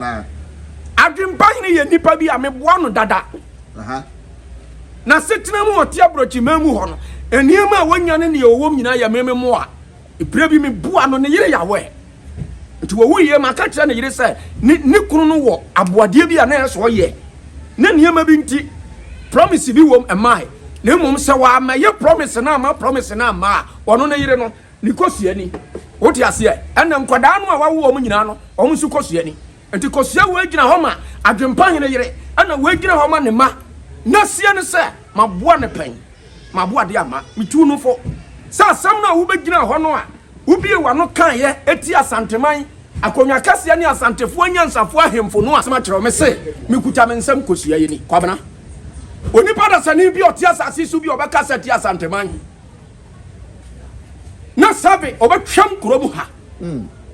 Adwempa Hene yɛ nipa bi a meboa no dada. N'asetena mu a ɔte aborɔkyiman mu hɔ no, nneɛma a wanya ne nea ɔwom nyinaa yɛ me mmoa. Berɛ bi meboa no, ne yere yawɛ. Nti wɔwuiɛ, maka kyerɛ ne yere sɛ ne ne kunu no wɔ aboadeɛ bi a na ɛyɛ sɛ ɔyɛ. Na nneɛma bi nti, promise bi wom, ɛmmae. Na mmom sɛ wammɛyɛ promise no amma promise no amma a, ɔno ne yere no, Ne kosua ni. Wote aseɛ? Ɛnna nkwadaa no a wawo wɔn nyinaa no, wɔn nso kosua ni. Nti kosua wei gyina hɔ ma Adwempahene yere, ɛnna wei gyina hɔ ma ne mma. N'asie ne sɛ, maboa no pɛn, maboa de ama, metu no fo. Sɛ asɛm no a wobɛgyinaa hɔ no a wobiee w'ano kaeɛ tia Asanteman akonnwa kɛseɛ ne Asantefoɔ anyansafoɔ ahemfo no a, makyerɛ wo, mese mekuta me nsam kosua yi ni. Kwabena, onipa dasani bi a ɔte asase so bi a ɔbɛkasa atia Asanteman. na sɛbe ɔbɛtwam kurom ha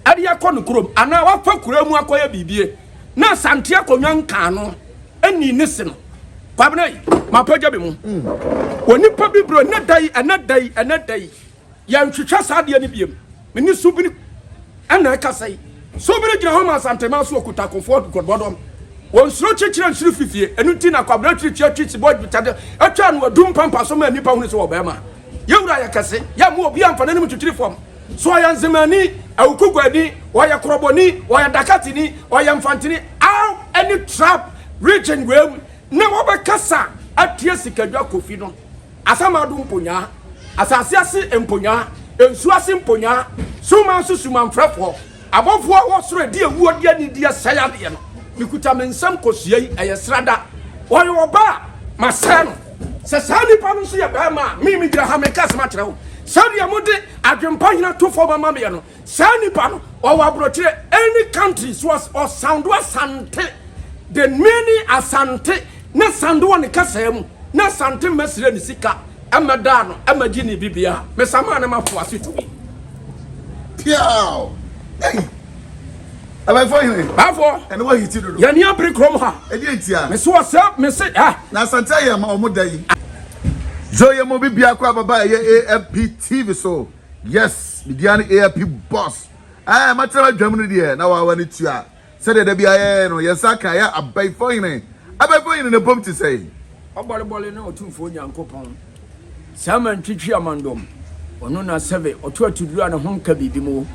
ɛde akɔ ne kurom anaa wafa kuraa mu akɔyɛ biribie na asante akonnwa nkaa no ɛni ne se no kwabena yi mapagya bi mu onipa bibire ɛnɛ da yi ɛnɛ da yi ɛnɛ da yi yɛnhwehwɛ saa adeɛ no biem Me ne Subiri na ɛkasa yi. Subiri gyina hɔ ma Asantema so ɔkuta akofoɔ nkɔbɔdɔm. Ɔnsuro kyekyerɛ nsuro fifie. Ɛno nti na Kwabena tiri tua twi sibɔ dwetade atwa no adum pampa so ma nnipa hunu sɛ ɔbarima. Yɛn wura yɛ kɛse. Yɛmmoa obiara mfa n'anim ntwitwiri fam. So ɔyɛ nzemani, awukuguani, ɔyɛ korɔbɔni, ɔyɛ dakateni, ɔyɛ mfantini, aw ɛne trap region wei mu na wɔbɛkasa atia Sikadwa Kofi no. Asamado mponyaa, asase ase mponyaa, nsuo ase mponyaa, summa nso sumanfrɛfoɔ, abɔfoɔ a wɔ soro adi awuo de anidie sɛe adeɛ no, mekuta me nsam kɔsua yi, ɛyɛ srada. Ɔyɛ ɔbaa a, masɛe no. Sɛ saa nipa no nso yɛ barima a, me megyina ha meka asɛm akyerɛ wo. Sɛdeɛ mode adwempa hina to fam ama meɛ no, Saa nipa no ɔwɔ abrokyire any country so ɔsando asante the meaning asante na sando wɔ ne kasaa mu na asante mɛ srɛ ne sika ɛmɛ daa no ɛmɛ gye ne bibia me samaa ne ma fo ase tumi. Piaw! Ei! Abɛfo hene. Bafo. Ɛne wɔ hiti dodo. Yɛne abere kurom ha. Ɛdi ntia. Mese wɔ sɛ mese ha. Na asante ayɛ ma ɔmo da yi. Zoe mo bi biako ababa ɛyɛ AMP TV so. Yes me dia ne AIP boss. Ae matena badwam no deɛ na wawa ne tua sɛdeɛ da biara yɛyɛ no yɛn nsa aka yɛ abaifo hene abaifo hene na ɛbom te sɛn. Ɔbɔrebɔre ne Otumfoɔ Nyankopɔn, saa man twi twi amandom, ɔno na sɛve, ɔto atuduro a ne ho nka biribi mo.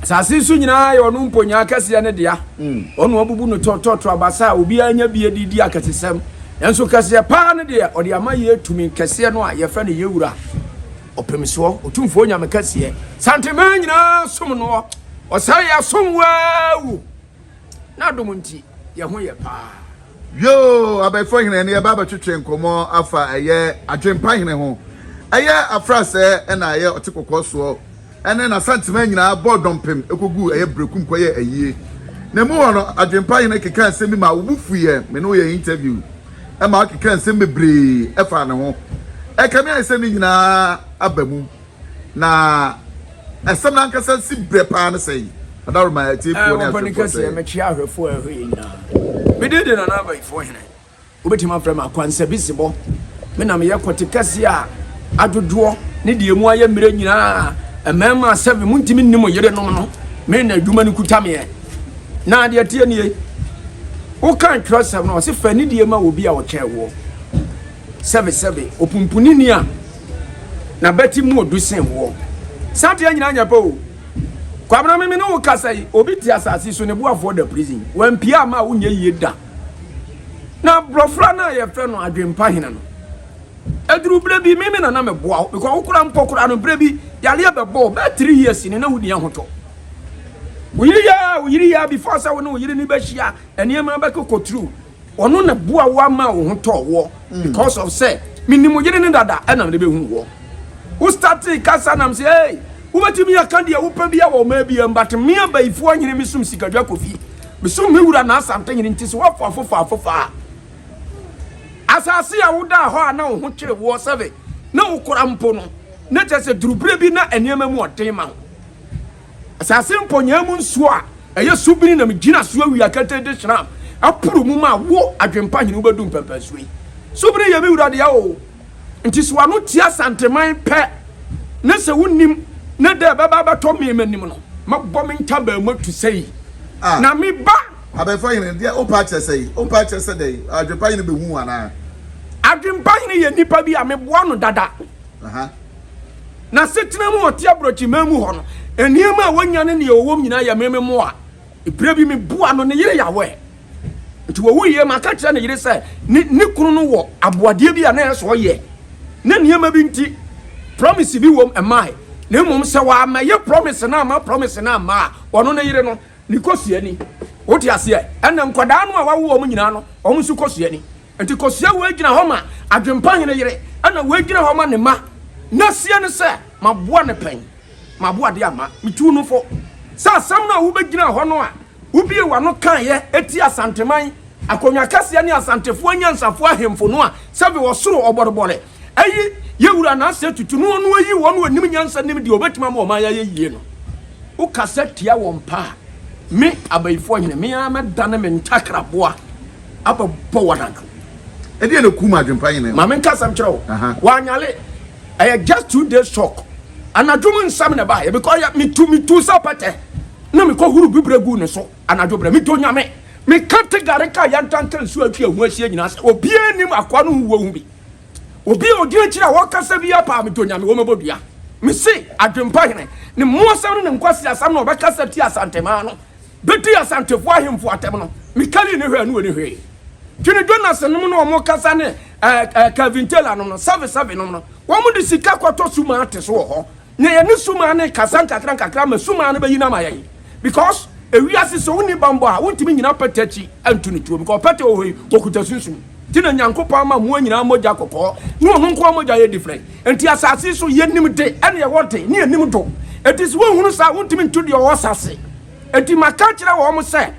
Asase so nyinaa yɛ ɔno mponyaa kɛseɛ no dea, ɔno abubu no tɔ tɔ tɔ abasa a obiara nya bie de redi akɛsesɛm, nanso kɛseɛ paa no deɛ ɔde ama yɛ tumi kɛseɛ no a yɛfrɛ no yɛ Wura. Ɔpem soɔ Otumfoɔ Nyame kɛseɛ. Santemaa nyinaa som noɔ. Ɔsɛe yɛasom wo aa o. N'adom nti yɛ ho yɛ paa. Yoo Abɛɛfo Hene ɛne yɛba abɛtwetwe nkɔmmɔ afa ɛyɛ Adwempa Hene ho. Ɛyɛ afrasɛɛ ɛna ɛyɛ ɔte kɔkɔɔ soɔ ɛne n'Asantemaa nyinaa bɔɔ dɔmpem ɛkɔguu ɛyɛ Berekum kɔyɛɛ ayie. Na mu hɔ no Adwempa Hene kekaa nsɛm bi maa wo bo fuiɛ, me ne wo yɛɛ interview. ma ɔkeka nsɛm bebree faa ne ho. Ɛkame ayɛ sɛ ne nyinaa aba mu, na asɛm no ankasa si berɛ paa ne sɛn? Adaworoma atiefoɔ ne ahwɛfoɔ sɛn? Ɛɛ, mɛkyerɛ ahwɛfoɔ a ɛhɔ yɛ nyinaa. Me din de Nana Abayifoɔ Hene. Wobɛtumi afrɛ me Akwansabisibɔ. Me na meyɛ kɔte kɛseɛ a adwodwoɔ ne deɛ emu ayɛ mmerɛ nyinaa. Mmarima asɛm, montumi nni mo yerenom no. Me na adwuma no kuta meɛ. Na deɛ ɛteɛ nie, wokan twerɛsɛm no, ɔse fa anidie ma obi a ɔkyɛn woɔ. Sɛbesɛbe, opunpunini a n'abati mu odu sen woɔ. Saa adeɛ nyinaa nyɛ pɛ o. Kwabena me mene wo kasa yi, obi te asase so ne boafoɔ da prison. Wampie ama a wonyɛ yie da. Na brɔfra no a yɛfrɛ no adwempa hene no, ɛduru berɛ bi me me nana meboa wo because wo koraa mpɔ koraa no berɛ bi yareɛ bɛbɔ wo bɛɛ three years ni na wonni ahotɔ. Wo yere yɛ a, wo yere yɛ a before sɛ wo ne wo yere no bɛhyia nneɛma bɛkɔ kɔturu. Ɔno na boa wo ama wo ho tɔɔ woɔ mm. because of sɛ menim wo yere no dada ɛna mede bɛhu woɔ. Wo startee kasa nam sɛ ei wobɛtumi aka deɛ wopɛ bia wɔ ɔmaa bia but me abayifoɔ nyene mesom sikadwa kofi mesom me wura na asante nyene nti sɛ woafa afofa afofa a asase a wodaa hɔ a na wo ho kyere woɔ sɛbe na wokora mpo no na kyerɛ sɛ duruberɛ bi na nneɛma mu ɔden ma wo Asase mpɔnyaa mu nsuo a ɛyɛ subini na megyina so awia ketee de hyerɛn aporo mu ma wo adwempa hene wobɛdu mpɛmpɛnsoɔ yi. Subini yɛ me wura dea oo, nti so ano tia Santeman pɛ na sɛ wonim na dɛ ɛbɛba abɛtɔ me m'anim no mɛbɔ me ntabaa mu atu sei na me ba. Abɛɛfo hene, deɛ wopɛ akyerɛ sɛ yi? Wopɛ akyerɛ sɛ dɛn? Adwempa hene bɛhu wo anaa? Adwempa hene yɛ nipa bi a meboa no dada. N'asetena mu a ɔte aborɔkyeman mu hɔ no, nneɛma a onya ne nea ɔwom nyinaa yɛ me mmoa. Bere bi meboaa no, ne yere yawee. Enti ɔwuiɛ ma aka kyerɛ ne yere sɛ ne ne kunu no wɔ aboadeɛ bi a na ɛyɛ sɛ ɔyɛ ne nneɛma bi nti promise bi wom mmae na mmom sɛ wammɛyɛ promise no amma promise no amma a ɔno ne yere no ne kosua ni. Wote aseɛ? Ɛnna nkwadaa no a wawo wɔn nyinaa no, wɔn nso kosua ni. Enti kosua wei gyina hɔ ma adwempa hene yere, ɛnna wei gyina hɔ ma ne mma. N'asie ne sɛ, Maboa no pɛn? Maboa deɛ amma. Metuu no fo. Sɛ asɛm no a wobɛgyinaa hɔ no a wobiee w'ano kaeɛ tiaa Asanteman akonnwa kɛseɛ ne Asantefoɔ anyansafoɔ ahemfo no a, sɛ mewɔ soro ɔbɔrebɔre, Eyi yɛ wura n'asɛ tutu na ɔno ayi wɔn a ɔnim nyansa nim deɛ ɔbɛtumi ama ɔman ayɛ yie no. Wokasa tia wɔn pɛ a, me Abayifoɔ Hene, me ara mɛdane me ntakraboa abɛbɔ wɔn anam. Ɛdeɛn na ɛkum adwempa Hene no? Ma menka asɛm nkyerɛ wo. Wanyale, ɛyɛ just two days shock. Anadwo mu nsɛm na ɛbaeɛ because metu metu sɛ pɛtɛ na mekɔhoro bibire guu ne so anadwo berɛ. Medɔ Nyame. Meka te gare ka yantanka nsuo atwi ɛho ahyia nyinaa sɛ obiara nnim akoa no ho wɔ ho bi. Obi a odi akyiri a ɔkasa biara paa me to nyame wɔ mɛbɔ dua. Me se adwempa hene ne mmoasɛm ne ne nkwaseasɛm na ɔbɛkasa ti asantemaa no bɛdi asantefoɔ ahemfo atɛm no me kali ne hwɛ ne ɔni hwee. Twene Jonas nom na ɔmo kasa ne ɛɛ ɛɛ Calvin Taylor nom no sɛve sɛve nom no wɔmo de sika kɔtɔ sumate so wɔ hɔ Na yɛne sumaa no rekasa nkakra nkakra ma sumaa no bɛyi no ama yɛn because ewiase sɛ wonni bammɔ a wontumi nnyina pɛtɛ akyi nto no tuo because pɛtɛ wɔ hɔ yi wɔkuta sunsum nti na Nyankopɔn ama mmoa nyinaa mogya kɔkɔɔ ne ɔno nkoa mogya yɛ different nti asase yi so yɛnim de ɛne ɛwɔ de ne yɛnim do nti sɛ wonhunu saa wontumi nto deɛ ɔwɔ asase nti maka akyerɛ wɔn sɛ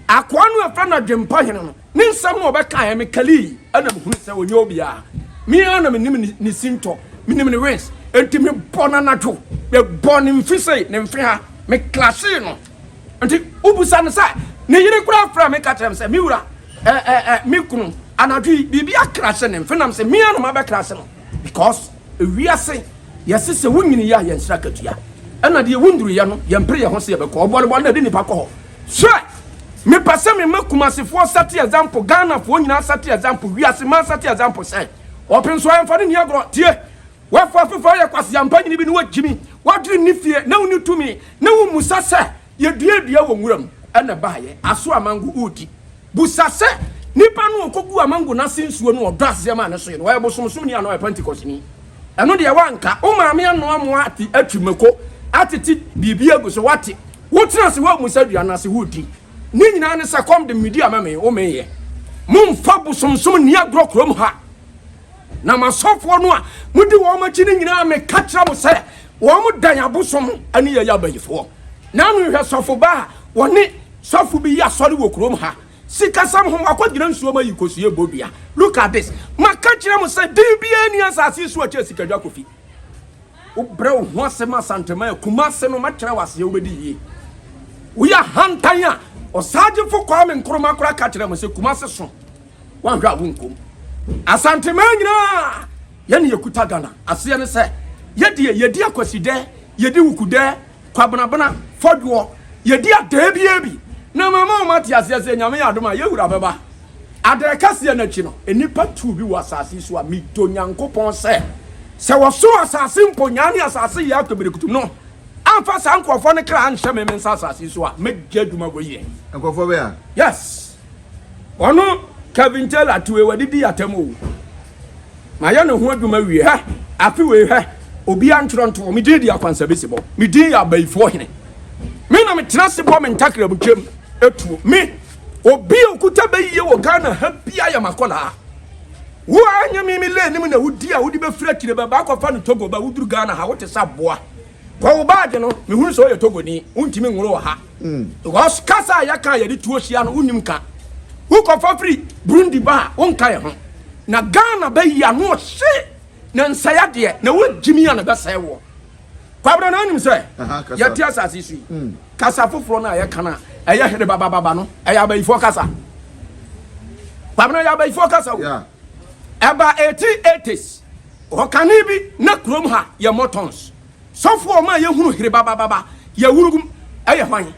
akoa no a ɛfrɛ no Adwempɔhene no Ne nsɛm no ɔbɛkaeɛ me kalii ɛna mehunu sɛ ɔnyɛ obiara. Me ara na menim ne, ne sintɔ, menim ne wins. Enti mebɔ no anadwo, mebɔ ne mfe sei, ne mfe ha, meklahyee no. Nti wobusa no sɛ ne yere koraa frɛ me ka kyerɛ me sɛ me wura, ɛ, ɛ, ɛ, me kunu, anadwo yi biribi akrahye ne mfe nam sɛ me ara na mabɛkrahye no. Because ewiase yɛse sɛ wonyini yɛ a yɛnsrɛ akatua ɛna deɛ wonduru yɛ no yɛmpere yɛho sɛ yɛbɛkɔ ɔbɔrebɔ na ɛde nipa kɔ hɔ hwɛ mepɛ sɛ mema kumasefoɔ sɛte example Ghanafoɔ nyinaa sɛte example wiase man sɛte example sɛ ɔpe nso ayɛmfa no nni agorɔ tie wafo afefa yɛ kwaseampa nyini bi ne wagyimi wadwene ne fie na wonni tumi na wommusa sɛ Yɛduaa dua wɔ nwura mu na ɛbaeɛ, aso a mango redi. Busa sɛ, Nipa no a ɔkɔguu a mango no ase nsuo no, ɔdɔ aseɛ maa ne soeɛ no, ɔyɛ bosomsomni anaa ɔyɛ Pentekosteni? Ɛno deɛ woanka. Wo maame anoa mo ate atwi mako, atete biribi agu so, woate. Wotena ase woammisa dua no ase, woredi. Ne nyinaa ne sɛ, kɔm de me medi a mɛmee. Womeeɛ. Mommfa bosomsom nni agorɔ kurom ha. Na m'asɔfoɔ no a modi wɔn akyi no nyinaa, meka kyerɛ mo sɛ, wɔn dan abosom ne yɛyɛ abayifoɔ. Nano hwɛ sɔfoba a wɔne sɔfo bi yi asɔre wɔ kurom ha. Sikasɛm ho wakɔgyina nsuom ayi kosua bɔ dua. Look at this. Maka kyerɛ mo sɛ din biara nni asase so a ɛkyɛn Sikadwa Kofi. Wobrɛ wo ho ase ma Asanteman a Kumase no mɛkyerɛ wo ase a wobɛdi yie. Woyɛ ahantan a Ɔsaagyefo Kwame Nkrumah koraa ka kyerɛɛ mo sɛ Kumase so. Woanhwɛ a wonkom. Asanteman nyinaa Yɛ ne yɛkuta Ghana aseɛ ne sɛ yɛdeɛ yɛdi akwasidɛ yɛdi wukudɛ kwabenabena fɔdwoɔ yɛdi adɛɛ biaa bi na mama wɔn ate aseɛ sɛ Nyame yɛ adom a yɛwura bɛba adɛɛ kɛseɛ no akyi no nnipa tuu bi wɔ asase yi so a medɔ Nyankopɔn sɛ sɛ wɔsoro asase mpo nyaa ne asase yɛ akpɛbirekutum no amfa saa nkorɔfoɔ no kra anhyɛ me me nsa asase yi so a mɛgya adwuma wɔ yie nkorɔfoɔ bɛɛ a yes. Ɔno Kevin Taylor to ewa didi atam o. Ma yɛ ne ho adwuma wie hɛ. Afe wei hɛ. Obia ntwerɛ nto hɔ. Me din de Akwansabi Sebɔ. Me din yɛ Abayifoɔ hene. Me na me tena se bɔ me ntakra mu twam atuo. Me, obi a okuta bɛyie wɔ Ghana ha bia yɛ makɔlaa. Wo a nyɛ me me lane mu na wo di a wode bɛfiri akyire bɛba akɔfa no Togo ba woduru Ghana ha wote sɛ aboa. Kɔ wo baage no. Mehunu sɛ woyɛ Togoni. Wontumi nworo wɔ ha. Because kasa a yɛka a yɛde tuo hyia no wonnim ka. Wokɔfa firi Burundi ba a wonka yɛ ho. Na Ghana bɛ yi ano ɔhye na nsɛe adeɛ na wogyimi a na ɛbɛsɛe woɔ. Kwabena na wonim sɛ yɛte asase so yi kasa foforɔ no a yɛka no a ɛyɛ herebabababa no ɛyɛ abayifoɔ kasa. Kwabena yɛ abayifoɔ kasa o. Ɛba 1880s ɔkane bi na kurom ha yɛ motons. Sɔfoɔ a ɔmaa yɛhunu herebabababa yawurugum yɛ hwan?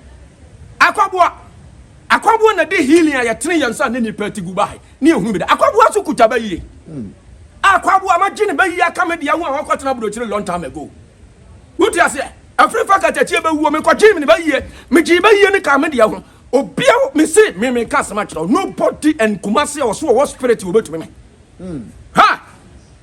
Akwaboa! Akwaboa na de healing a yɛtene yɛn nsa ne nnipa ti gu bae ne yɛhunu bi da. Akwaboa so kuta bayie. Akwaboa, magye ne bayie aka me dea ho a wakɔtena aburokyire long time ago. Wote aseɛ? Afiri fa katakyie bɛwuo, mekɔgyee me ne bayie. Megyee bayie no kaa me dea ho. Obia, mese, me meka asɛm akyerɛ wo, nobody and Kumasi a ɔso ɔwɔ spirit a ɔbɛtumi me. Ha!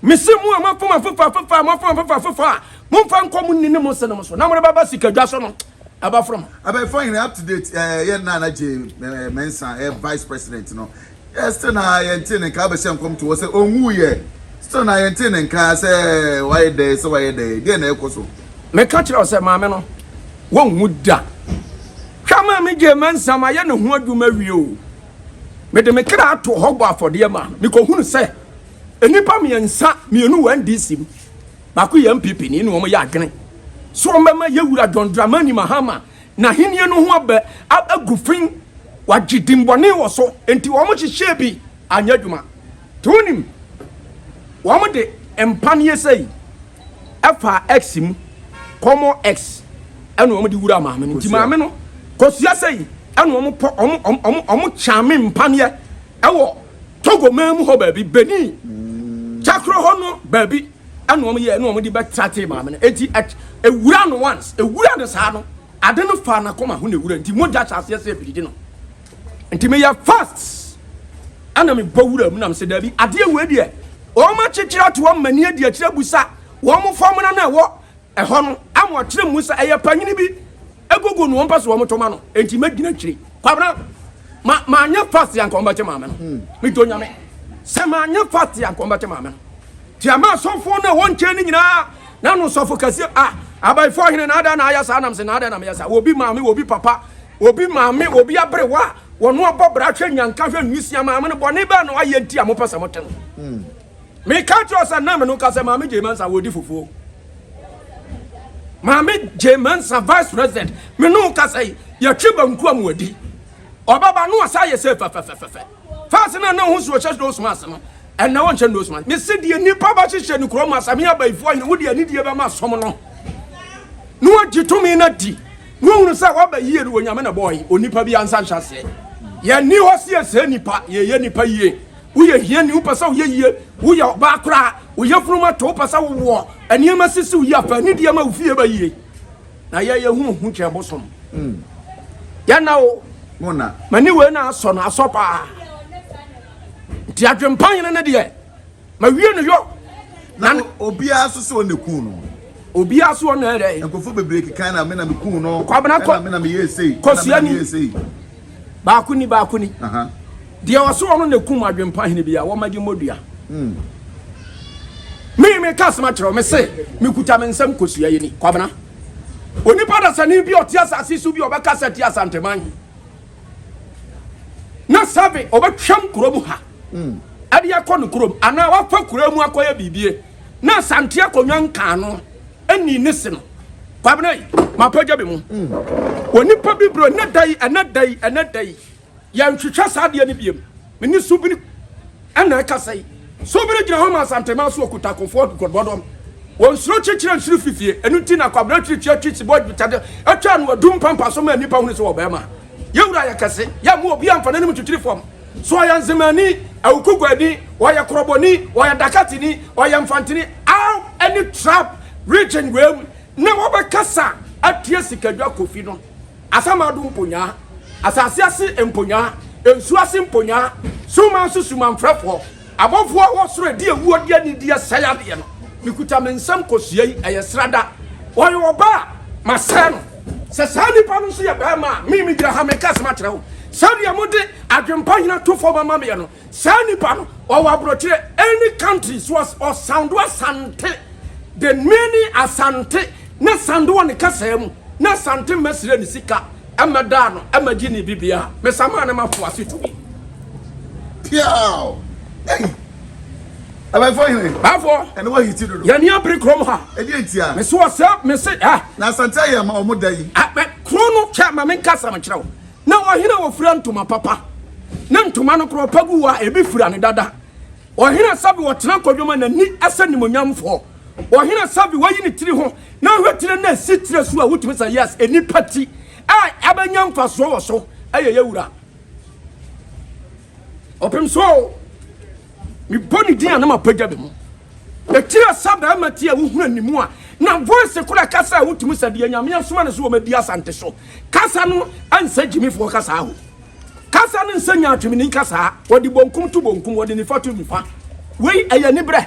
Mese mo a moafom afoforo afoforo a moafom afoforo afoforo a, momfa nkɔ mo nne ne mo senom so, na morebɛba sikadwa so no, ɛbɛforo mo. Abɛɛfo hene up to date eh yɛ nna na Jay eh Mensah yɛ vice president no eh still na yɛntee ne nka abɛhyɛ nkɔm to hɔ sɛ onwu yɛ still na yɛntee ne nka sɛ wayɛ dɛn sɛ wayɛ dɛn deɛ na ɛkɔ so. Meka kyerɛ wo sɛ maame no wonwu da hwɛ maame Jay Mensah mayɛ ne ho adwuma awie o mede me kra ato hɔ bɔ afɔdeɛ maa no mekɔhunu sɛ Nnipa mmiɛnsa, mmienu wɔ NDC mu, baako yɛ NPP ni, na wɔyɛ adwene sɛ wɔbɛma yɛn wura John Dramani Mahama n'ahenni no ho abɛ agu fi. Wɔagye dimmɔne wɔ so, enti wɔhyehyɛɛ bi anyɛ adwuma. Nti wonim, wɔde mpaneɛ sei faa X mu, kɔmɔ X, ɛna wɔde wuraa maame no. Nti maame no, Kosua sei, ɛna wɔpɔ, wɔn, wɔn, wɔn kyame mpaneɛ ɛwɔ Togo man mu hɔ baabi, Benin, Chakro hɔ no baabi ɛna wɔn yɛ ɛna wɔn de bɛtra tee maame no eti ewura no once ewura no saa no ade no fa n'akoma ho na ewura nti mogya hyɛ aseɛ sɛ ebiridi no nti meyɛ fast ɛna mebɔ wura mu na mesɛ daabi adeɛ wei deɛ wɔn akyekyere ato wɔn mani adi akyire busa wɔn fɔmuna no ɛwɔ Ɛhɔ no, ama ɔkyerɛ mmu sɛ ɛyɛ panyin bi agugu no, ɔmpɛ so wɔn to ma no, enti mɛgyina akyiri. Kwabena, ma, manyɛ fast anka wɔbɛte maame no. Hmm. Medɔ Nyame. Sɛ manyɛ fast anka wɔbɛte maame no. Ti ama asɔfo na wɔn nkyɛn no nyinaa, na no sɔfo kɛseɛ, ah, abaifo ahene na ada na ayɛ saa, nam se na ada na meyɛ saa. Obi maame, obi papa, obi maame, obi aberewa, wɔn abɔ bra hwɛ nyanka hwɛ nwisia maame no, bɔne bɛɛ na wayɛ nti a mopɛ sɛ mote no. Hmm. Me ka kyerɛ sɛ na me no ka sɛ maame gye mansa wɔ di fufuo maame gye mansa vice president me no ka sɛ yɛtwe banku a mo adi ɔbɛba no asa yɛ sɛ fɛfɛfɛfɛ fɛs na na ho suo hyɛ nose mask no ɛnna wɔnhyɛ nose mask me se deɛ nnipa ba hyehyɛ ne kurom asame abayifoɔ nyina wode anidie bɛma som no na wɔgye tumi no adi na wɔhunu sɛ wɔaba yie no wɔnyame na bɔɔye onipa bi ansa nhyɛ aseɛ yɛnni hɔ siesie nnipa yɛyɛ nnipa yie Woyɛ hiani, wopɛ sɛ woyɛ yie, woyɛ ɔbaa koraa, wo yafunu mu ato, wopɛ sɛ wowoɔ, nneɛma sisi wo yie a, fa anidie ma wo fie ba yie. Na yɛ yɛhu ohu kyɛn bosom. Hmm. Yɛna o. Mona. M'ani wei na asɔ no asɔ paa. Nti adwempa yene no deɛ, ma wie no yɔ. Na obiara so so ɔne kun no. Obiara so ɔne ɛdɛ. Nkɔfo bebree kekan na me na me kun no. Kwabena kɔ. Na me na me yɛ esei. Kɔsia ni. Baako ni baako ni. Aha. Deɛ ɔse ɔno na kum adwempa hene bi a wɔma gye mmɔ dua. Me me ka asem akyerɛ wo me se me kuta me nsam kosua yɛ ni kwabena onipa dasani bi ɔte asase so bi ɔbɛka sɛ te asanteman na sɛbe ɔbɛtwam kurom ha ɛde akɔ ne kurom anaa wafa kura mu akɔyɛ biribie na asante akonnwa nkaano ɛni ne se no kwabena yi mapagya bi mu onipa bibire ɛnɛ da yi ɛnɛ da yi ɛnɛ da yi Yɛnhwehwɛ saa adeɛ no biom. Me ne Subiri na ɛkasa yi. Subiri gyina hɔ ma Asantema so ɔkuta akofoɔ nkɔdɔdɔm. Ɔnsuro kyekyerɛ nsuro fifie. Ɛno nti na Kwabena tiri twi atwi sibɔ adwitade atwa ano adu mpampa so ma nnipa hunu sɛ ɔwɔ barima. Yɛn wura yɛ kɛse. Yɛmmoa obi amfa n'anim ntwitwiri fam. So ɔyɛ Nzemani, Awukuguani, ɔyɛ Korɔbɔni, ɔyɛ Dakatini, ɔyɛ Mfantini, Aw ne Trap region wei mu na wɔbɛkasa atia Sikadwa Kofi no. Asamado mponyaa, asase ase mponyaa, nsuo ase mponyaa, summa nso sumanfrɛfoɔ, abɔfoɔ a wɔ soro adi awuo de anidie sɛe adeɛ no, mekuta me nsam kɔsua yi, ɛyɛ srada. Ɔyɛ ɔbaa a, masɛe no. Sɛ saa nipa no nso yɛ barima a, me megyina ha meka asɛm akyerɛ wo. Sɛdeɛ mode adwempa hina to fam ama meɛ no, Saa nipa no ɔwɔ aborɔkyerɛ any country so ɔsound Asante the meaning Asante na sound wɔ ne kasaa mu na Asante mma srɛ ne sika mma daa no mma gye ne bibiaa me samaa ne ma fo ase tumi. Piaw! Ei! Abafoɔ hene! Bafoɔ! Ɛne wɔ hiti dodo. Yɛne abere krom ha. Ɛdeɛ ntia. Mese wɔ sɛ mese ah. Na asante ayɛ ma ɔmo da yi. Kron no kyɛ ma me nkasa me kyerɛ wo. Na ɔhene a ɔfira ntoma papa ne ntoma no korɔ pa gu hɔ a ebi fira no dada. Ɔhene a sɛbe ɔtena kwadwom a n'ani sɛ animuonyamfoɔ. Ɔhene a sɛbe wayi ne tiri ho na ɔhwɛ tire no a ɛsi tire so a wotumi sɛ yes, nnipa ti a abɛnya mfasoɔ wɔ so yɛ yɛn wura. Ɔpem so o, mebɔ ne din a na mapagya me mu. Ɛkyerɛ sɛ bɛrima ti a wohunu animu a na voice kora kasa a wotumi sɛ deɛ Nyame asoma no sɛ wɔmɛdi Asante so kasa no nsɛ gyimifoɔ kasaa ho. Kasa no nsɛ nyaatwemni kasaa, wɔde bonkum to bonkum, wɔde nifa to nifa. Wei ɛyɛ aniberɛ.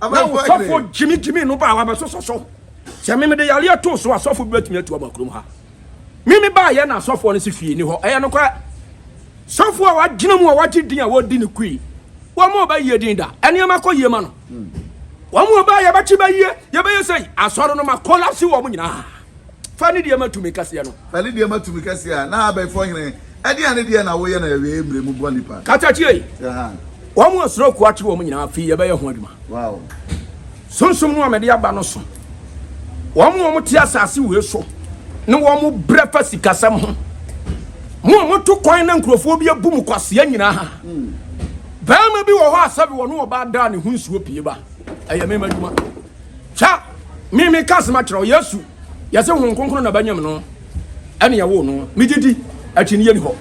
na wosɔfo gyimigyimi no baa wabɛsosɔ so sɛ meme de yareɛ too so asɔfo bi bɛtumi atu aba kurom ha meme baayɛ na asɔfoɔ no si fie ni hɔ ɛyɛ nokorɛ sɔfo a wagyina mu a wagye din a wɔdi no kui wɔn a ɔbɛyie din da ɛnneɛma kɔ yie ma no wɔn a ɔbaa yɛbɛkye bɛyie yɛbɛyɛ sɛ asɔre no ma kɔlapse wɔn nyinaa Fa ne deɛ ma tumi kɛseɛ no. Fa ne deɛ ma tumi kɛseɛ a. Na abɛɛfoɔ hene, ɛdeɛn ne deɛ na woyɛ na awiei mmerɛ mu bɔ nnipa? Ka kyerɛ, tie! Wɔn a suro ako akyere wɔn nyinaa, afei yɛbɛyɛ ho adwuma. Sunsum no a mede aba no so, wɔn a wɔte asase wei so ne wɔn brɛ fa sikasɛm ho, mo a moto kwan na nkurɔfoɔ bi abu mo kwasea nyinaa. Barima bi wɔ hɔ a sɛbe ɔne ɔbaa daa ne ho nsuo pue ba, ɛyɛ me m'adwuma. Hwɛ, me meka asɛm akyerɛ wo, Yesu, yɛse Honhom Kronkron na bɛnyem no, ɛne yɛwoo no, megye di, akyinnyeɛ ni hɔ.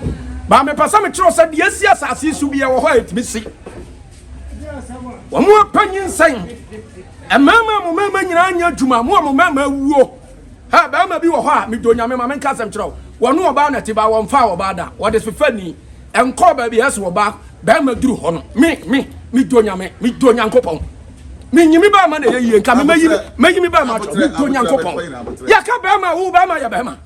Baa mepɛ sɛ mekyerɛ wo sɛ deɛ asi asase yi so biara wɔ hɔ a ɛtumi si. Wɔn apɛ nyinsɛn, mmarima a mo mmarima nyinaa nyɛ adwuma, mo a mo mmarima awuo. Ha, barima bi wɔ hɔ a, medɔ nyame ma menka asɛm kyerɛ wo, wɔne ɔbaa na ti baa wɔmfaa ɔbaa da, wɔde fefɛ ni, Ɛnkɔɔ baabi a ɛso ɔbaa barima duru hɔ no. Me, me, me dɔ Nyame, me dɔ Nyankopɔn. Me nyi me barima na ɛyɛ yie, nka me mɛyi mɛyi me barima akyɛ, me dɔ Nyankopɔn. Yɛka barima a, wo barima yɛ barima.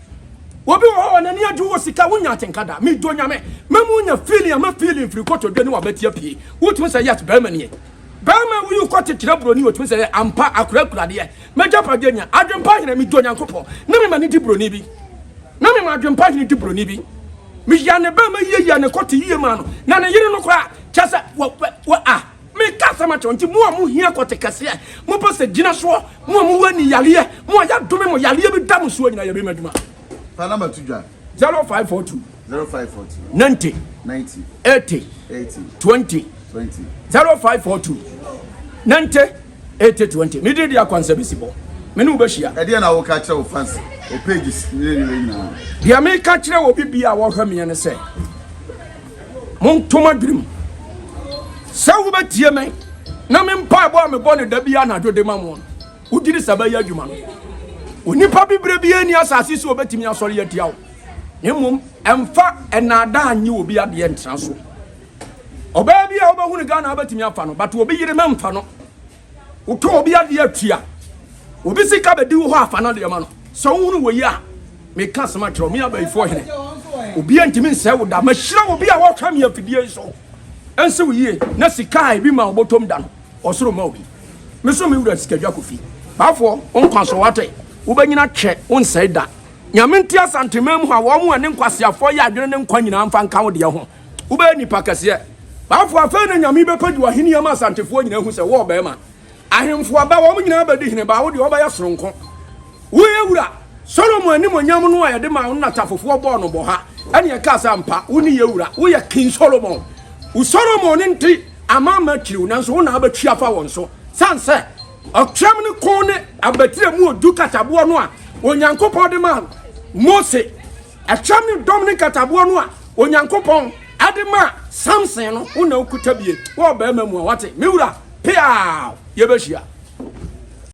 Obi wɔ hɔ a n'ani adwo wɔ sika, wonya atenka da, me dɔ Nyame. Mɛma wonya feeling a mɛ feeling firi kotodwe ne w'abati apue. Wotumi sɛ yes, barima nie. Barima a woyi wo kɔte kyerɛ broni, otumi sɛ ampa akora kura adeɛ. M'agyapadeɛ nya adwempa hene Medɔ Nyankopɔn na mema no di buroni bi Na mema adwempa hene di buroni bi Meya ne bɛma yie ya ne kɔte yie maa no Na ne yere no koraa kyɛ sɛ wɔ wɔ a Meka asɛm akyerɛ nti mo a mo hia kɔte kɛseɛ Mo pɛ sɛ gyina soɔ Mo a mo wɔ ani yareɛ Mo a yɛadome mo yareɛ bi da mo soɔ nyina yɛ bɛma adwuma Panama to dwa. 0542. Zero five four two. Ninety. Ninety. Eighty. Eighty. Twenty. Twenty. Zero five four two. Ninety. Eighty. Twenty. Ne di di akwansa bi si bɔ. Me ne wo bɛhyia. Ɛdeɛ na woka kyerɛ wo fans o pages ne ne nyinaa. Deɛ meka kyerɛ wɔ bibi a wɔhwɛ meɛ ne sɛ montom adwenem sɛ wobɛtie me na me mpaebɔ a mebɔ no da bi anadwo de ma mo no Wogye di sɛ bɛyɛ adwuma no, onipa bibire biara nni asase so a obetumi asɔre atia wo. Na mmom, mfa nnaadaa nnye obi adeɛ ntena so. Ɔbaa bi a wobɛhu no Ghana betumi afa no, but obi yere mɛmfa no. Wotɔ obi adeɛ atua, obi sika bɛdi wo hɔ afa no adeɛ ma no. Sɛ wohunu wɔ yi a, meka asɛm akyerɛ wo, me abayifoɔ hene. Obiara ntumi nsɛe wo da. Mahyira obi a wɔhwɛ me afidie yi so. Ɛnsi wo yie na sika a ebi ma wɔbɔtɔm da no, Ɔsoro ma obi. Me so me wura sika dwa kɔ fi. Baafoɔ wo nkwa so wate. Wobɛnyina twɛ wo nsɛe da. Nyame nte Asanteman mu ha wɔn mu ɛne nkwaseafoɔ yɛ adwene ne nkwa nyinaa mfa nka wo deɛ ho. Wobɛyɛ nipa kɛseɛ. Baafoɔ afei na Nyame bɛpɛ di w'ahenni ama Asantefoɔ nyinaa ahu sɛ wo ɔbarima. Ahemfo aba wɔn nyinaa bɛdi hene baa wo deɛ wɔbɛyɛ sononko. Wo yɛ wura, Solomon animuonyam no a yɛde maa wo no na tafofoɔ bɔɔ no bɔha, ɛne ɛkaa sɛ, Ampa, wo ne yɛ wura, wo yɛ King Solomon. Wo Solomon no nti amanaman kyiri wo, nanso wo na wobɛtwe afa wɔn so, sane sɛ ɔtwɛm no ko ne abatire mu odu kataboɔ no a Onyankopɔn de maa Mose, ɛtwɛm ne dɔm ne nkataboɔ no a Onyankopɔn de maa Samson no, wo na wokuta bie wɔ ɔbarima mu a, wate, me wura, peaw, yɛbɛhyia.